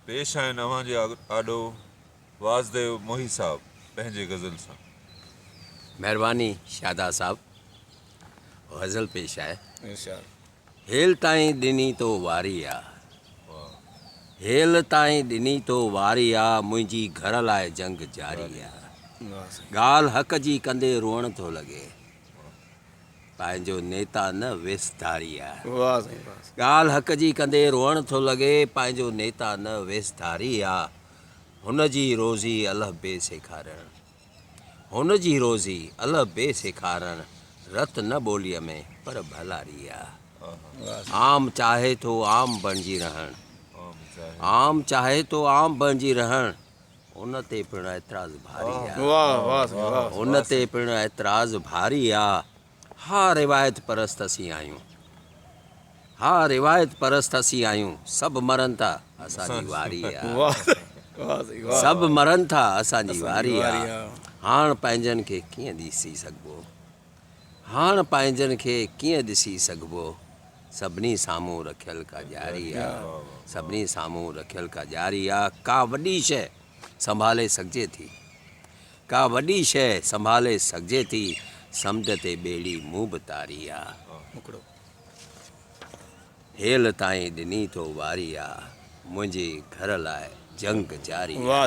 پيش آهن اوهان جي آڏو واسديو موهي صاحب پنهنجي غزل سان. مهرباني شادا صاحب غزل پيش آهي. ارشاد. هيل تائين ڏني تو واري آ. واهه. هيل تائين ڏني تو واري آ منهنجي گهر لاء جنگ جاري آ. ڳالهه حق جي ڪندي روئڻ ٿو لڳي. پنهنجو نيتا نه ويس ڌاري آ. واه سائين واه سائين. ڳالهه حق جي ڪندي روئڻ ٿو لڳي پنهنجو نيتا نه ويس ڌاري آ هن جي روزي الف بي سيکارڻ هن جي روزي الف بي سيکارڻ رت نه ٻوليء ۾ پر ڀلاري آ عام چاهي ٿو عام بڻجي رهڻ عام چاهي ٿو عام بڻجي رهڻ ان تي پڻ اعتراض ڀاري آ. ان تي پڻ اعتراض ڀاري آ. ها روايت پرست اسين آهيون. ها روايت پرست اسين آهيون. سڀ مرن ٿا اسان جي واري آ. سڀ مرن ٿا اسان جي واري آ. هاڻ پنهنجن کي ڪيئن ڏسي سگهبو. هاڻ پنهنجن کي ڪيئن ڏسي سگهبو. سڀني سامهون رکيل ڪا ڄاري آ. سڀني سامهون رکيل ڪا ڄاري آ. ڪا وڏي شيء سنڀالي سگهجي ٿي. ڪا وڏي شيء سنڀالي سگهجي ٿي. سمنڊ تي ٻيڙي مون به تاري آ. مکڙو هيل تائين ڏني تو واري آ. منهنجي گهر لاء جنگ جاري آ.